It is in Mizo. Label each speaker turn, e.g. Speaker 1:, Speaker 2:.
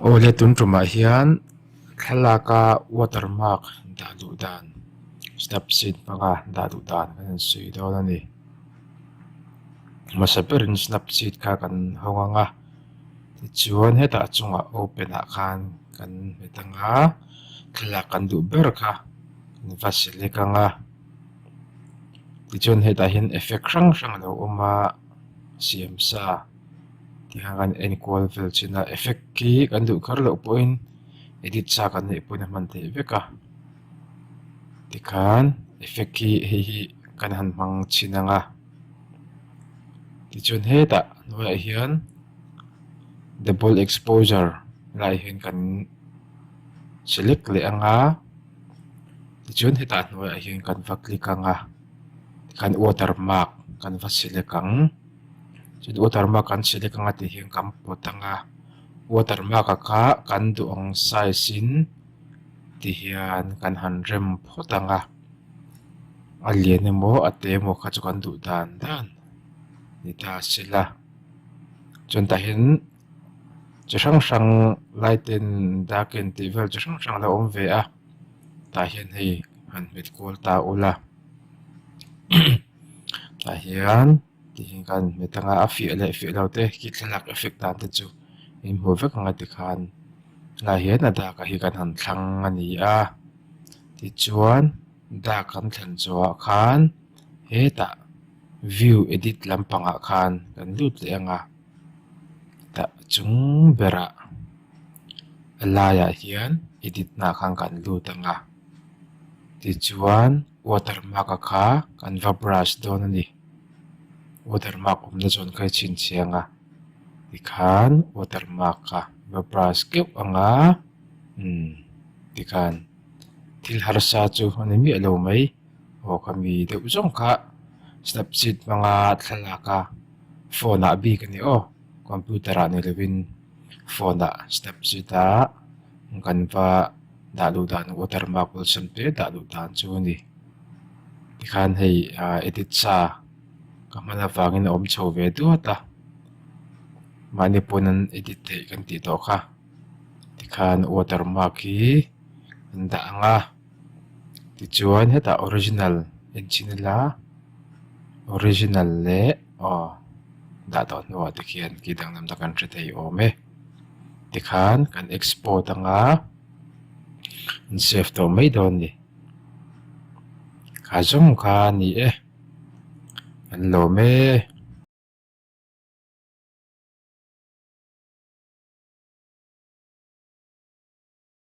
Speaker 1: Aw le tun ṭumah hian thlalaka water mark dah duh dan step sîn hmanga dah duh dan kan han sawi dâwn a ni hmasa berin step sîn kha kan ho ngang a tichuan hetah chungah open ah khan kan hmu ta nga thlalak kan duh ber kha kan va select ang a tichuan hetah hian effect hrang hrang a lo awm a siam sa. tiang an enkual fel chin a effect khi kan duh kar loh pawhin edit sa kan neih pawhin a hman theih vek a tikhan effect khi hei hi kan han hmang chin ang a tichuan hetah hnuaiah hian double exposure lai hi kan select leh ang a tichuan hetah hnuaiah hian kan va click ang a tikhan watermark kan va select ang. chu chu water mark an chhilek anga tih hian kan hmu thang a water mark a kha kan duh ang size in ti hian kan han rem phawt ang a a lian emaw a te emaw kha chu kan duh dan dan ni ta a si la chuan tah hian chi hrang hrang light te in dark in tih vel chi hrang hrang a lo awm ve a tah hian hei han hmet kual ta ula. Tah hian tihian kan hmu thang a a fiah leh fiah lo te khi thlalak effect dan te chu in hmuh vek ang a tikhan tunah hian a dâk ah hi kan han thlang a ni a tichuan dâk kan thlen chungah khan hetah view edit lampang ah khan kan lut leh ang a tah chung berah a laiah hian edit hnah khan kan lut ang a tichuan-- Water mark a kha kan va brush dawn a ni. Water mark awmna chuan ka i chhinchhiah ang a, tikhan water mark kha va brush keuh ang a, umm tikhan thil harsa chu a ni miah lo mai. Aw ka mi deuh zawng kha Snapseed hmanga thlalaka phone ah a bik a ni aw computer ah nei lovin. Phone ah Snapchat ah Ganva dah luh dan watermark awlsam te dah luh dan chu a ni. Tikhan hei edit sa ka hman avangin a awm chho ve duat a. Mahni pawn an edit theih kan tih tawh kha. Tikhan watermark hi an dah ang a. tichuan hetah original in chhin ila original leh aw dah tawh hnuah te khian khi danglam te kan hre thei awm e tikhan kan export anga an save tawh mai dawn a ni kha zawng kha a ni e an lawm e.